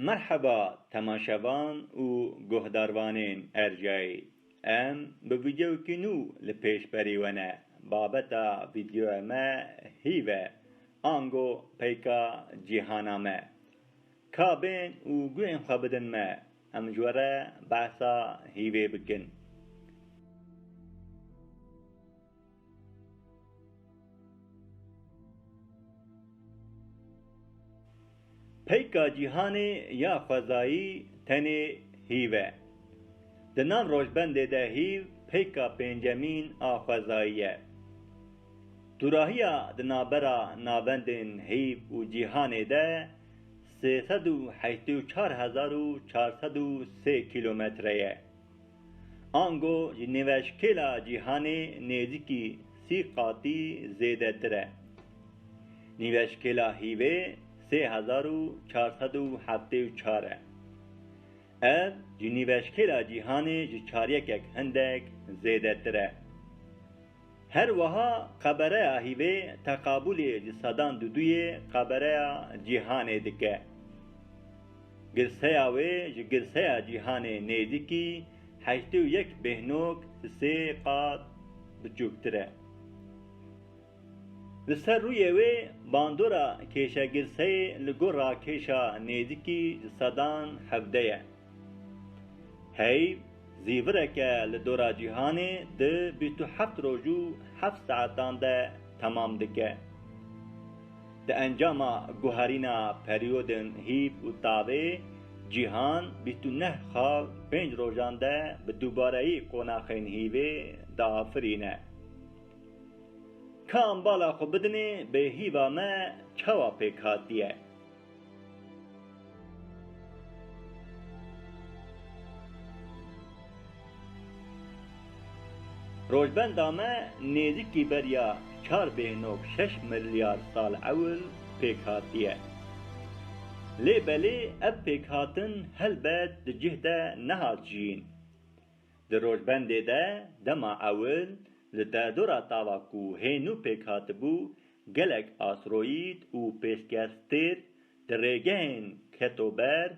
Merheba temaşevan û guhdarvanên Ercayî. Em bi vîdeoyekî nû li pêş berî we ne. Babeta vîdeoya me hîv e, ango peyka cîhana me. Ka bên û guhên xwe bidin me, em ji we re behsa hîvê bikin. Peyka cîhanê ya xwezayî tenê hîv e. Di nav rojbendê de hîv peyka pêncemîn a xwezayî ye. Dûrahiya di navbera navendên hîv û cîhanê de sê sed û heştê û çar hezar û çar sed û sê kîlometre ye. Ango ji nêveşkêla cîhanê nêzîkî sî qatî zêdetir e. Nîveşkêla hîvê sê hezar û çar sed û heftê û çar e. Ev ji nîveşkêla cîhanê ji çaryekek hindek zêdetir e. Her wiha Qebereya Hîvê teqabûlê li sedan duduyê Qebereya Cîhanê dike. Girseya wê ji Girseya Cîhanê nêzîkî heştê û yek bêhnog sê qat biçûktir e. Li ser rûyê wê bandora kêşegirseyê li gor rakêşa nêzîkî sedan hevde ye. Hey, zîvireke li dora cîhanê di bîst û heft roj û heft saetan de temam dike. Di encama guherîna perîyodên hîv û tavê, cîhan bîst û neh xal pênc rojan de bi dûbareyî qonaxên hîvê diafirîne. Ka em bala xwe bidinê bêhîva me çawa pêk hatiye? Rojbenda me nêzîkî beriya çar bêhnob şeş milyar sal ewil pêk hatiye. Lê belê ev pêkhatin helbet di cih de nehat jiyîn. Di rojbendê de dema ewil li derdora tava ku hê nû pêk hatibû Gelek asteroîd û pêşkestêr di rêgehên ketober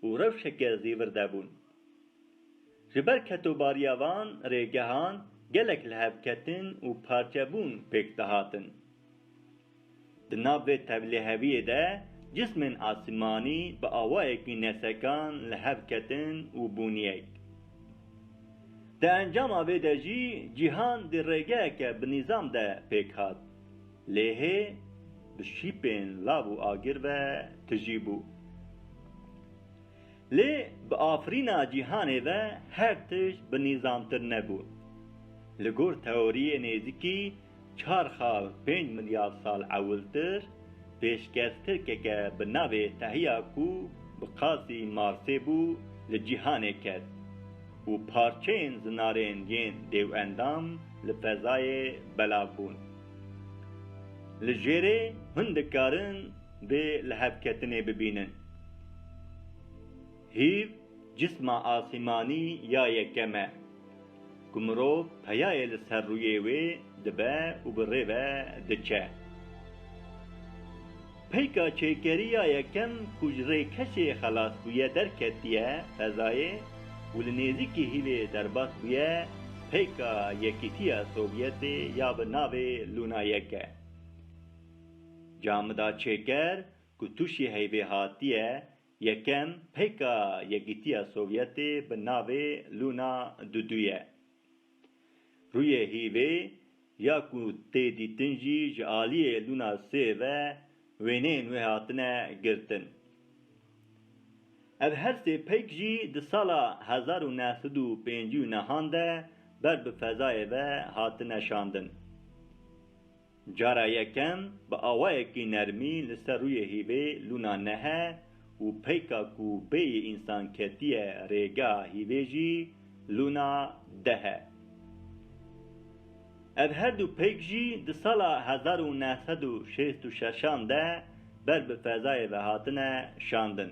û rewşeke zîvir de bûn. Ji ber ketobariya van rêgehan gelek lihevketin û parçebûn pêk dihatin. Di nav vê tevliheviyê de cismên asîmanî bi awayekî nesekan li hev ketin û bûniyek. Di encama vê de jî cîhan di rêgeyeke binîzam de pêk hat. Lêhê bi şîpên lav û agir ve tijî bû. Lê bi afirîna cîhanê ve her tişt binîzamtir nebû. Li gor teoriyê nêzikî Çar xal pênc milyar sal ewiltir, pêşkes tirkeke bi navê Tehiya ku bi qasî Marsê bû li cîhanê ket û parçeyên zinarên yên dêwendam li fezayê belav bûn. Li jêrê hûn dikarin vê lihevketinê bibînin. Hîv. Cisma asîmanî ya yekem e ku mirov peyayê li ser rûyê wê dibe û bi rê ve diçe. Peyka çêkerî ya yekem ku ji rê kesê xelas bûye derketiye fezayê û li nêzîkî hîlê derbas bûye peyka Yekîtiya Sovyetê ya bi navê Luna yek e. Camida çêker ku tûşî heyvê hatiye Yekem, pêka Yekîtiya Sovyetê bi navê Luna Dudu ye. Rûyê hîvê ya ku tê dîtin jî ji aliyê Luna sê ve wêneyên wê hatine girtin. Ev her sê pêk jî di sala hezar û neh sed û pêncî û nehan de ber bi fezayê ve hatine şandin. Cara yekem bi awayekî nermî li ser rûyê hîvê lûna nehe û peyka ku bêyî însan ketiye rêgeha hîvê jî lûna dehe. Ev her du peyk jî di sala hezar û neh sed û şêst û şeşan de ber bi fezayê ve hatine şandin.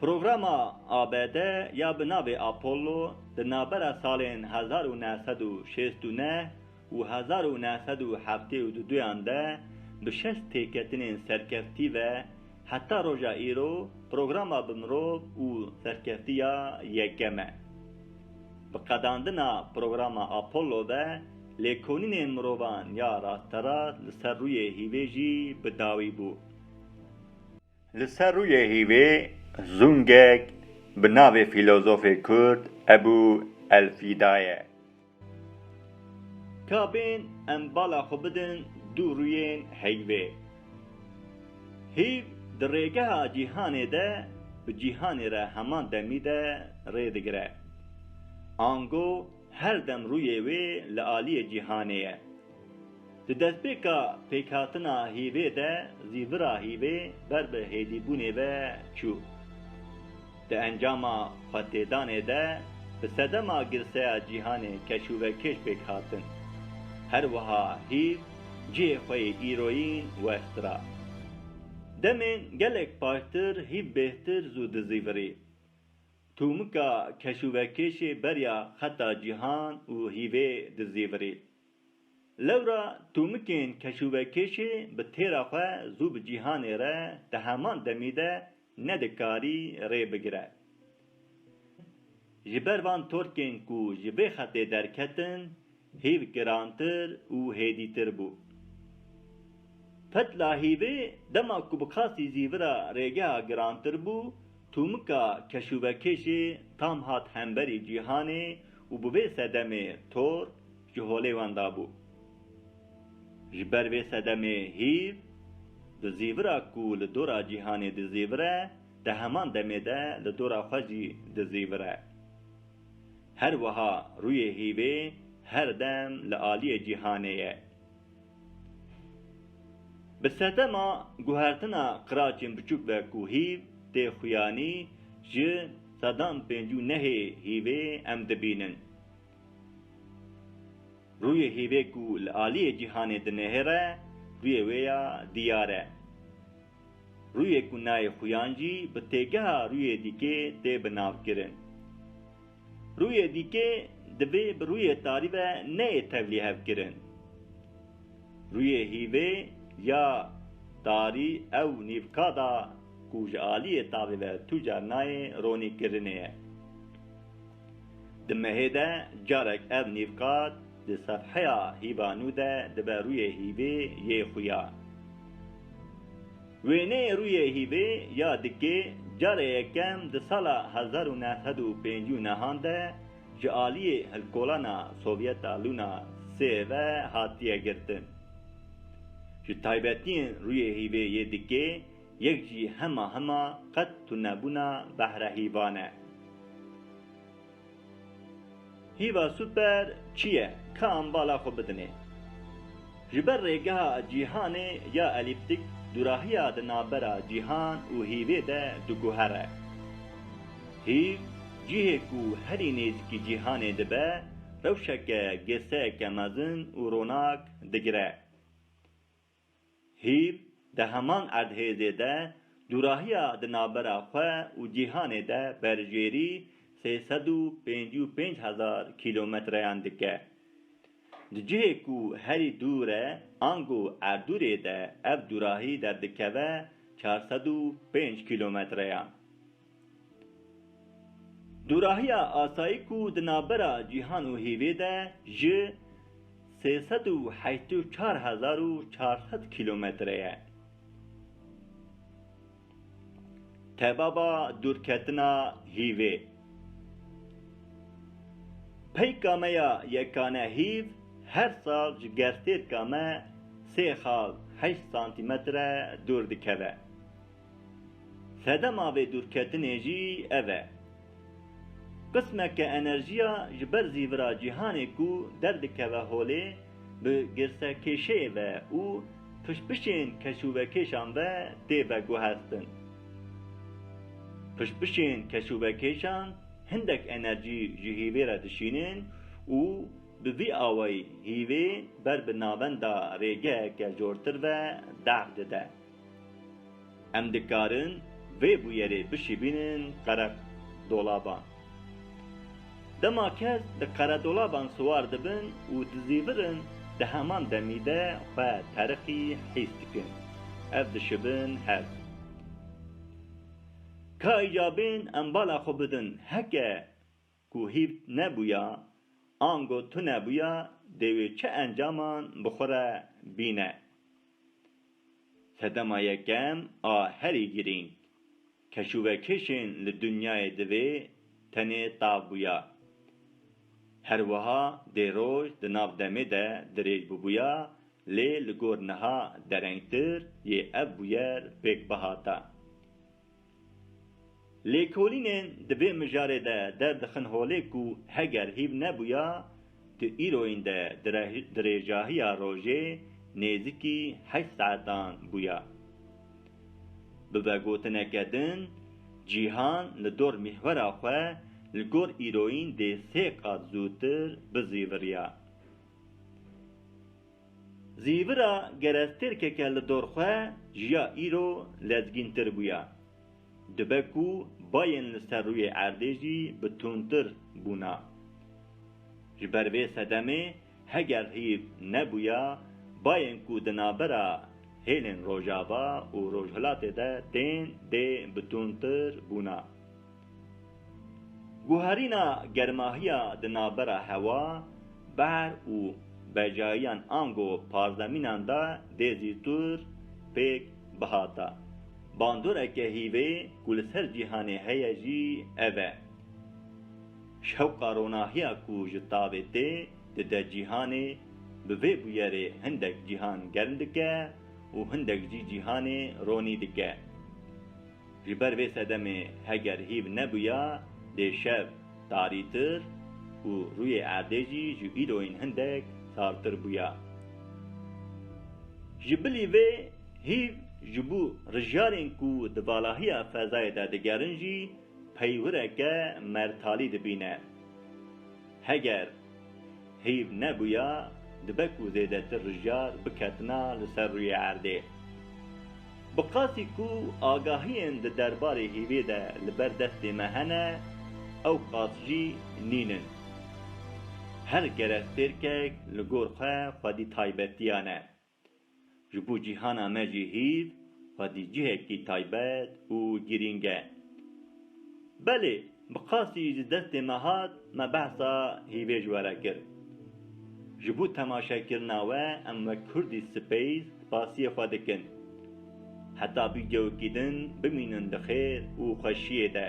Programa ABD ya bi navê Apollo di navbera salên hezar û neh sed û şêst û neh û hezar û neh sed û heftê û duduyan de bi şeş têketinên serkeftî ve heta roja îro programa bi mirov û serkeftî ya yekem e. Bi qedandina programa Apollo ve lêkolînên mirovan ya rasterast li ser rûyê hîvê jî bi dawî bû. Li ser rûyê hîvê zûngek bi navê fîlozofê kurd Ebû Elfîda ye. Ka bên em bala xwe bidin du rûyên heyvê. Hîv di rêgeha cîhanê de bi cîhanê re heman demî de rê digire. Ango her dem rûyê wê li aliyê cîhanê ye. Di destpêka pêkhatina hîvê de zî vira hîvê ber bi hêdîbûnê ve çû. Di encama xwetêdanê de bi sedema girseya cîhanê keş û vekêş pêk hatin. Her wiha hîv cihê xwe yê îroyîn west ra. Demên gelek paştir hîv bêhtir zû dizîvirî. Tûmika keş û vekêşê beriya xeta cîhan û hîvê dizîvirî. Lewra tûmikên keşûvekêşê bi têra xwe zû bi cîhanê re di heman demî de nedikarî rê bigire. Ji ber van torkên ku ji vê xetê derketin hîv girantir û hêdîtir bû. Fetla hîvê dema ku bi qasî zîvira rêgeha girantir bû, Tomika keşûvekê jî tam hat hemberî cîhanê û bi vê sedemê Thor ji holê wan dabû. Ji ber vê sedemê hîv di zîvira ku li dora cîhanê dizîvir e, di heman demê de li dora xwe jî dizîvir e. Her wiha rûyê hîvê her dem li aliyê cîhanê ye. Bi sedema guhertina qiraçên biçûk ve ku hîv tê xuyanî ji sedan pêncî û nehê hîvê em dibînin. Rûyê hîvê ku li aliyê cîhanê dinihêre rûyê wê ya diyar e. Rûyê ku nayê xuyan jî bi têgeha rûyê dîkê tê binavkirin. Rûyê dîkê divê bi rûyê tarî ve neyê tevlî hevkirin. Rûyê hîvê ya tarî ew nîvka da ku ji aliyê tavê ve tu car nayê ronî kirinê ye. Di mehê de carek ev nîvka di sefheya hîva nû de dibe rûyê hîvê yê xuya. Wêneyê rûyê hîvê ya dikê carê yekem di sala hezar û neh sed û pêncî û nehan de ji aliyê hilkolana Sovyeta Luna sê ve hatiye girtin. Ji taybetiyên rûyê hîvê yê dikê yek jî hema hema qet tunebûna behre hîvan e. Hîva super çi ye? Ka em bala xwe bidinê. Ji ber rêgeha cîhanê ya elîptîk dûrahiya di navbera cîhan û hîvê de diguhere. Hîv, cihê ku herî nêzîkî cîhanê dibe, rewşeke gêseyeke mezin û ronak digire. Hîv di heman erdhêzê de dûrahiya di navbera xwe û cîhanê de berjêrî sê sed û pêncî û pênc hezar kîlometreyan dike. Di cihê ku herî dûr e ango Erdûrê de ev dûrahî derdikeve çar sed û pênc kîlometreyan. Dûrahiya asayik û di navbera cîhan û hêvê de ji sê sed û heşt û çar hezar û çar sed kîlometre ye. Tebaba dûrketina hîvê. Peyka me ya yekane hîv her sal ji gerstêrka me sê xal heşt santîmetre dûr dikeve. Sedema vê dûrketinê jî ev e. Qismeke enerjiya ji ber zîvira cîhanê ku derdikeve holê bi girsekêşeyê ve û pişpişên keşûvekêşan ve tê veguhestin. Pişpişên keşûvekêşan hindek enerjî ji hîvê re dişînin û bi vî awayî hîvê ber bi navenda rêgeheke jortir ve deq dide. Em dikarin vê bûyerê bişîbînin qeredolaban. Dema kes li qeredolaban siwar dibin û dizîvirin di heman demî de xwe teriqî hîs dikin. Ev dişibin hev. Ka îcabên em bala xwe bidin heke Ku hîv nebûya, ango tu nebûya dê wê çi encaman bi xwe re bîne. Sedema yekem a herî girîng, keşûvekêşên li dinyayê divê tenê tav bûya. Her wiha dê roj di nav demê de dirêj bûbûya lê li gor niha derengtir yê ev bûyer pêk bihata. Lêkolînên di vê mijarê de derdixin holê ku heger hîv nebûya tu îroyîn de dirêjahiya rojê nêzîkî heşt saetan bûya. Bi vegotineke din cîhan li dor mîhwera xwe li gor îroyîn dê sê qat zûtir bizîviriya. Zîvira gerestêrkeke li dorxwe jiya îro lezgîntir bûya. Dibe ku bayên li ser rûyê erdê jî bi tundtir bûna. Ji ber vê sedemê heger hîv nebûya bayên ku di navbera hêlên rojava û rojhilatê de tên dê bi tundtir bûna. Guherîna germahiya di navbera hewa, behr û bejayiyan ango pazdeh mînan de dê zîtûr pêk bihata. Bandoreke hîvê ku li ser cîhanê heye jî ev e. Şewqa ronahiya ku ji tavê tê dide cîhanê, bi vê bûyerê hindek cîhan germ dike û hindek jî cîhanê ronî dike. Ji ber vê sedemê heger hîv nebûya dê şev tarîtir û rûyê erdê jî ji îroyên hindek sartir bûya. Ji bilî vê hîv ji bo rijyarên ku di valahiya fezayê de digerin jî peywireke mertalî dibîne. Heger. Heyv nebûya dibe ku zêdetir rijar biketina li ser rûyê erdê. Bi qasî ku agahiyên di derbarê hêvê de li ber destê me hene, ew qas jî nîn in. Her kerestêrkek li gor xwe xwedî taybetiyan e. Ji bo cîhana me jî hîv xwedî cihekî taybet û girîng e. Belê bi qasî ji destê me hat me behsa hîvê ji we re kir. Ji bo temaşekirina we em wek Kurdî Space spasiyê xwe dikin. Heta vîdeoyekî din bimînin di xêr û xweşiyê de.